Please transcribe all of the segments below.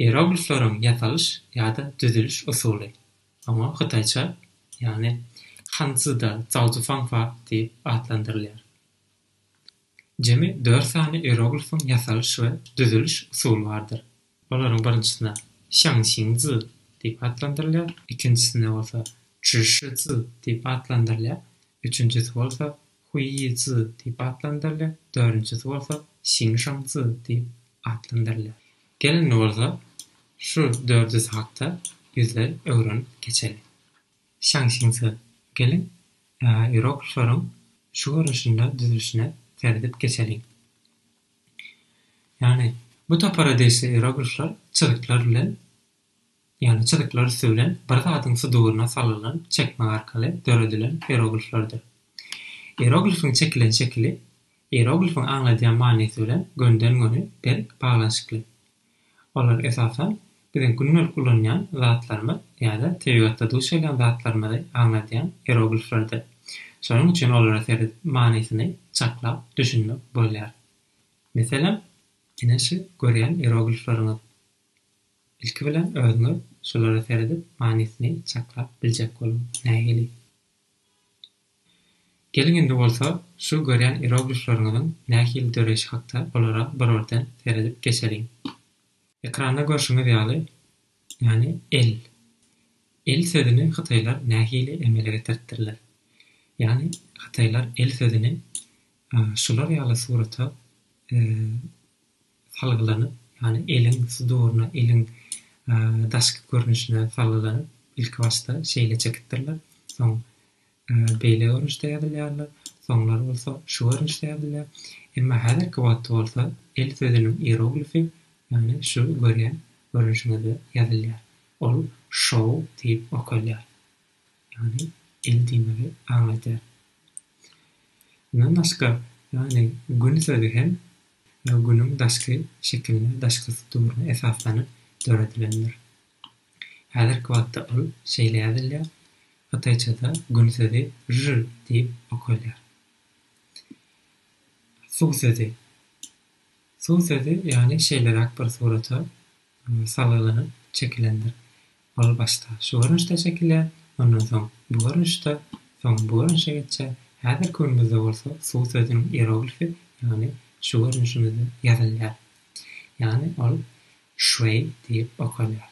Ieroglifleriň ýasalyş ýa-da düzüliş usuly. Oňa hytaýça, ýagny Hanzida Zaozufanfa diýip atlandyrylýar. Jemi dört sany ieroglifiň ýasalyş we düzüliş usuly bardyr. Olaryň birinjisine Şangşinzi diýip atlandyrylýar, ikinjisine bolsa Çžişzi diýip atlandyrylýar, üçünjisi bolsa Huýýizi diýip atlandyrylýar, dördünjisi bolsa Şiňşaňzi diýip atlandyrylýar. Gel indi bolsa şu dördüsi hakda ýüzleý öwrenip geçeli. Şaňşiňzi, geliň, ýeroglifleriň şu görnüşinde düzülişine seredip geçeliň. Ýagny bu topara degişli ýeroglifler çyzyklar bilen Ýagny çyzyklar üsti bilen bir zadyň suduryna salylan çekmek arkaly döredilen ierogliflerdir. Ieroglifiň çekilen şekili ieroglifiň aňladýan manysy bilen gönden-göni berk baglanyşykly. Olar, esasan, biziň gündelik ulanýan zatlarymyz ýa-da tebigatda duş gelýän zatlarymyzy aňladýan ierogliflerdir. Şonuň üçin olara seredip manysyny çaklap düşünmek bolýar. Meselem, ine şu görýän ieroglifleriňiz. Ilki bilen özüňiz şulara seredip manysyny çaklap biljek boluň. Nähili? Geliň indi bolsa şu görýän ieroglifleriňiziň nähili döreýşi hakda olara birorden seredip geçeliň. Ekranda görşüňiz ýaly, ýany el. El sözüni hytaýlar nähili emele getiripdirler? Ýany hytaýlar el sözüni şular ýaly surata salgylanyp, ýagny eliň suduryna, eliň daşky görnüşine salgylanyp, ilkibaşda şeýle çekipdirler, soň beýle görnüşde ýazylýarlar, soňlar bolsa şu görnüşde ýazylýar. Emma häzirki wagtda bolsa el sözüniň ieroglifi, ýagny şu görýän görnüşiňizde ýazylýar. Ol şou diýip okalýar. ýagny el diýmegi aňladýar. Mundan başga, ýagny gün sözi hem günüň daşky şekiline, daşky sturuna esaslanyp döredilendir. Häzirki wagtda ol şeýle ýazylýar, hytaýçada gün sözi zhi diýip okalýar. Suw sözi. Suw sözi, ýagny şeýleräk bir surata salgylanyp çekilendir. Ol başda şu görnüşde çekilýär, ondan soň bu görnüşde, soň bu görnüşe geçýär. Häzirki günümizde bolsa suw sözüniň ieroglifi, ýagny şu görnüşimizde ýazylýar. Ýagny ol şweý diýip okalýar.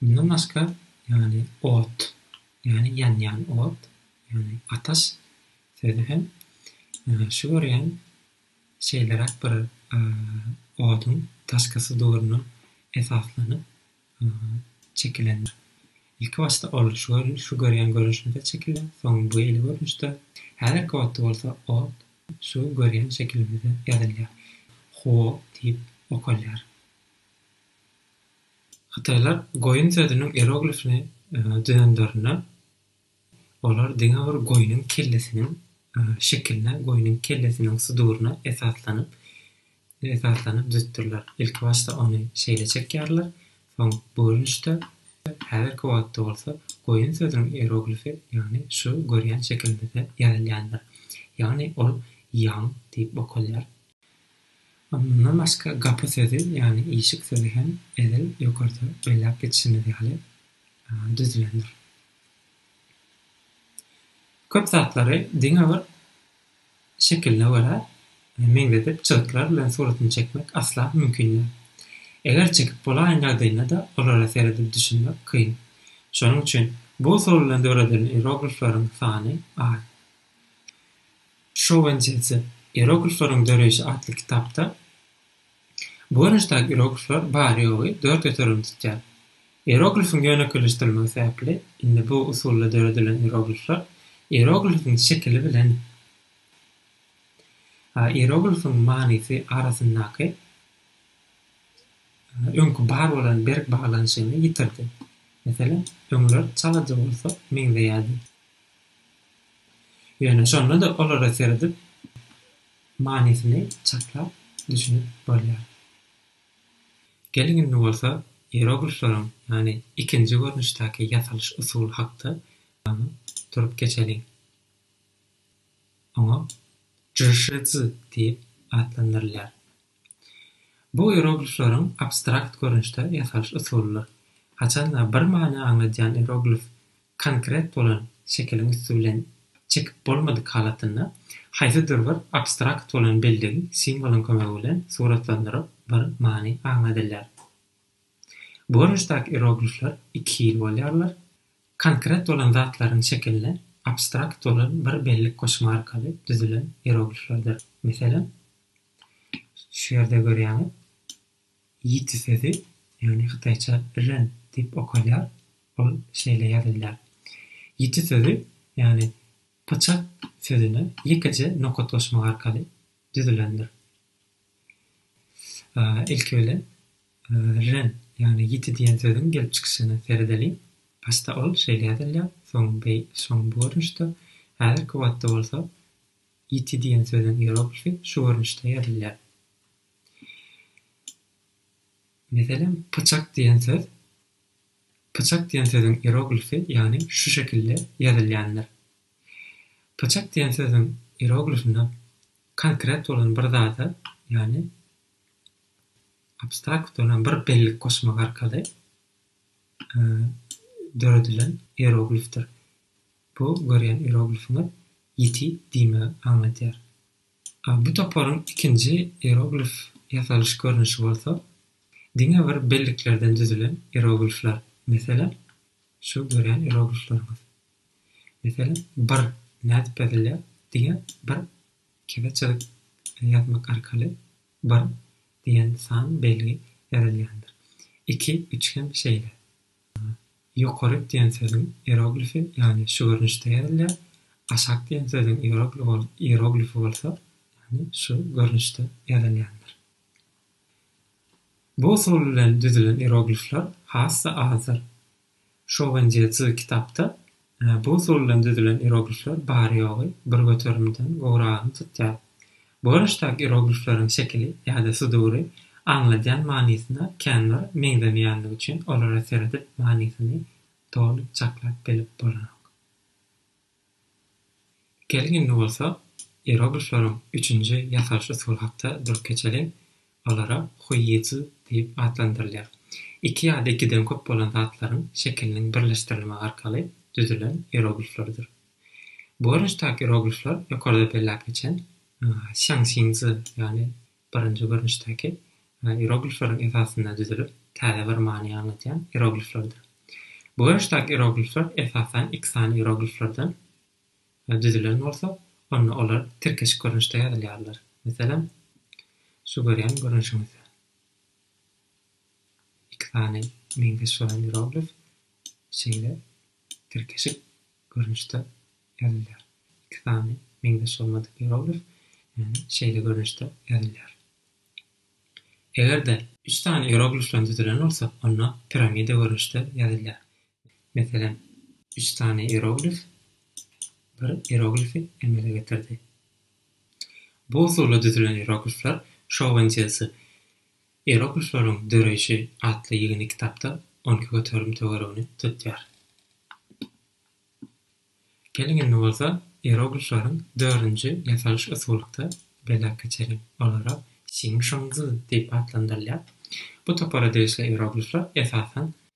Mundan başga, ýagny ot, ýagny ýanýan ot, ýagny ataş sözi hem şu görýän Şeýleräk bir oduň daşkysy döwrüne esaslanyp çekilendir. Ilki başda ol şu görýän görnüşinde çekilýär, soň bu hili görnüşde, häzirki otda bolsa ot şu görýän şekilimizde ýazylýar, huo diýip okalýar. Hytaýlar goýun sözüniň ieroglifini düzenlerinde. Olar diňe bir goýnuň kellesiniň şekiline, goýnuň kellesiniň suduryna esaslanyp esaslanyp düzüpdirler. Ilkibaşda ony şeýle çekýärler, soň görnüşde, häzirki wagtda bolsa goýun sözüniň ieroglifi, ýagny şu görýän şekilimizde ýazylýandyr. Ýagny ol ýaň diýip okalýar. Mundan başga gapy sözi, ýagny işik sözi hem edil ýokarda belläp geçişimiz ýaly düzülendir. Köp zatlary diňe bir şekiline görä meňzedip çyzyklar bilen suratyny çekmek asla mümkin däl. Eger çekip bolaýan ýagdaýynda-da olara seredip düşünmek kyn. Şonuň üçin bu usul bilen döredilen ieroglifleriň sany az. Şowentzýadze, Ieroglifleriň döreýşi atly kitapda, Bu görnüşdäki ieroglifler bary-ýogy dört ötürini tutýar. Ieroglifiň ýönekeýleşdirilmegi sebäpli, indi bu usulda döredilen ieroglifler ieroglifiň şekili bilen a ieroglifiň manysy arasyndaky öňki bar bolan berk baglanyşygyny ýitirdi. Meselem, öňler çalaja bolsa meňzeýärdi. Ýöne şonda-da olara seredip, Manysyny çaklap düşünip bolýar. Geliň indi bolsa ieroglifleriň, ýagny ikinji görnüşdäki ýasalyş usuly hakda durup geçeliň. Oňa jyşyzy diýip atlandyrylýar. Bu ieroglifleriň abstrakt görnüşde ýasalyş usulydyr. Haçanda bir many aňladýan ieroglif Konkret bolan şekiliň üsti bilen çekip bolmadyk halatynda, haýsydyr bir abstrakt bolan belligi simwolyň kömegi bilen suratlandyryp bir many aňladylýar. Bu görnüşdäki ieroglifler iki hili bolýarlar, konkret bolan zatlaryň şekiline abstrakt bolan bir bellik goşma arkaly düzülen ierogliflerdir. Meselem, şu ýerde görýäňiz. Ýiti sözi, ýagny hytaýça ren diýip okalýar, ol şeýle ýazylýar. Ýiti sözi, ýagny pyçak sözüne ýekeje nokat goşmak arkaly düzülendir. Ilki bilen ren, ýagny ýiti diýen sözüň gelip çykyşyna seredeliň. Başda ol şeýle ýazylýar, soň beý, soň bu görnüşde, häzirki wagtda bolsa ýiti diýen sözüň iýeroglifi şu görnüşde ýazylýar. Meselem, pyçak diýen söz. Pyçak diýen sözüň ieroglifi, ýagny şu şekilde ýazylýandyr. Pyçak diýen sözüň ieroglifinde konkret bolan bir zada, ýagny abstrakt bolan bir bellik goşmak arkaly döredilen ieroglifdir. Bu görýän ieroglifiňiz ýiti diýmegi aňladýar. Bu toparyň ikinji ieroglif ýasalyş görnüşi bolsa diňe bir belliklerden düzülen ieroglifler. Meselem, şu görýän ieroglifleriňiz. Meselem, bir nädip ýazylýar? Diňe bir kese çyzyk ýazmak arkaly bir diýen san belgi ýazylýandyr. Iki, üç hem şeýle. Ýokary diýen sözüň ieroglifi, ýagny şu görnüşde ýazylýar, aşak diýen sözüň ieroglifi bolsa, ýagny şu görnüşde ýazylýandyr. Bu usul bilen düzülen ieroglifler has-da azdyr. Şowenjie Zy kitapda Bu usul bilen düzülen ieroglifler bary-ýogy bir göterimden gowragyny tutýar. Bu görnüşdäki ieroglifleriň şekili ýa-da sudury aňladýan manysyna känbir meňzemeýänligi üçin olara seredip manysyny doly çaklap bilip bolanok. Geliň indi bolsa ieroglifleriň üçünji ýasalyş usuly hakda durup geçeliň. Olara huýýizl diýip atlandyrylýar. Iki ýa-da ikiden köp bolan zatlaryň şekiliniň birleşdirilmegi arkaly düzülen ierogliflerdir. Bu görnüşdäki ieroglifler ýokarda belläp geçen şýaňşinzi, ýagny birinji görnüşdäki ieroglifleriň esasynda düzülip, täze bir many aňladýan ierogliflerdir. Bu görnüşdäki ieroglifler esasan iki sany ierogliflerden düzülen bolsa, onda olar tirkeşik görnüşde ýazylýarlar. Meselem, şu görýän görnüşiňiz. Iki sany meňzeş bolan ieroglif şeýle tirkeşik görnüşde ýazylýar. Iki sany meňzeş bolmadyk ieroglif, ýagny şeýle görnüşde ýazylýar. Eger-de. Üç sany ieroglifden düzülen bolsa, onda piramida görnüşde ýazylýar. Meselem, üç sany ieroglif bir ieroglifi emele getirdi. Bu usulda düzülen ieroglifler Şowenzýelsy Ieroglifleriň döreýşi atly ýygyndy kitapda on iki göterim töweregini tutýar. Geliň indi bolsa ieroglifleriň dördünji ýasalyş usulykda belläp geçeliň. Olara Sing Şong Zi diýip atlandyrylýar. Bu topara degişli ieroglifler esasan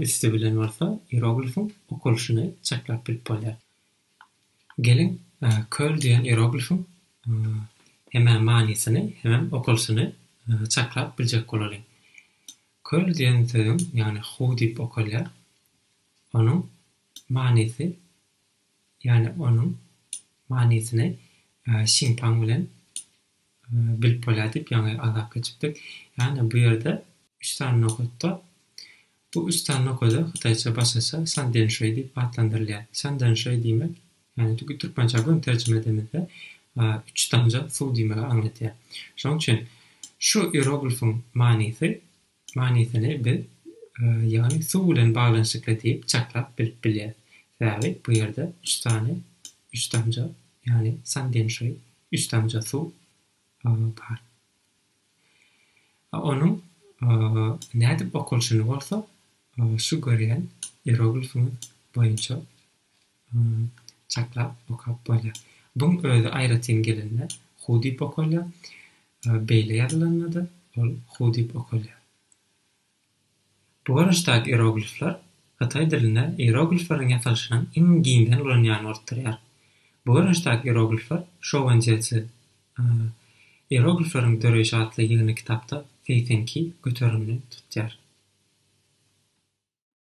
Üsti bilen bolsa ieroglifiň okalyşyny çaklap bilip bolýar. Geliň, köl diýen ieroglifiň hemä manysyny hemem okalyşyny çaklap biljek bolalyň. Köl diýen sözüň, ýagny Hu diýip okalýar, onuň manysy, ýagny onuň manysyny Şinpaň bilen bilip bolýar diýip ýaňy azap geçipdik. Ýagny bu ýerde üç sany nokatda bu üç sany nokada hytaýça başgaça san den şuý diýip atlandyrylýar. San den şuý diýmek, ýagny tüki türkmençä göni terjime edemizde üç damja suw diýmegi aňladýar. Şonuň üçin şu ieroglifyň manysy Manysyny biz, ýagny suw bilen baglanyşykly diýip çaklap bilip bilýäris. Sebäbi bu ýerde üç sany, üç damja, ýagny sandenşoý, üç damja suw, bar. A onuň nädip okalşyny bolsa şu görýän ieroglifimiz boýunça Hum çaklap okap bolýar. Buň özi aýratyn gelende Hu diýip okalýar. Beýle ýazylanda-da ol Hu diýip okalýar. Bu görnüşdäki ieroglifler hytaý dilinde ieroglifleriň ýasalyşynyň iň giňden ulanýany bolup durýar. Bu görnüşdäki ieroglifler Şouwenjezi, Ieroglifleriň döreýşi atly ýygyny kitapda Feýfenki göterimli tutýar.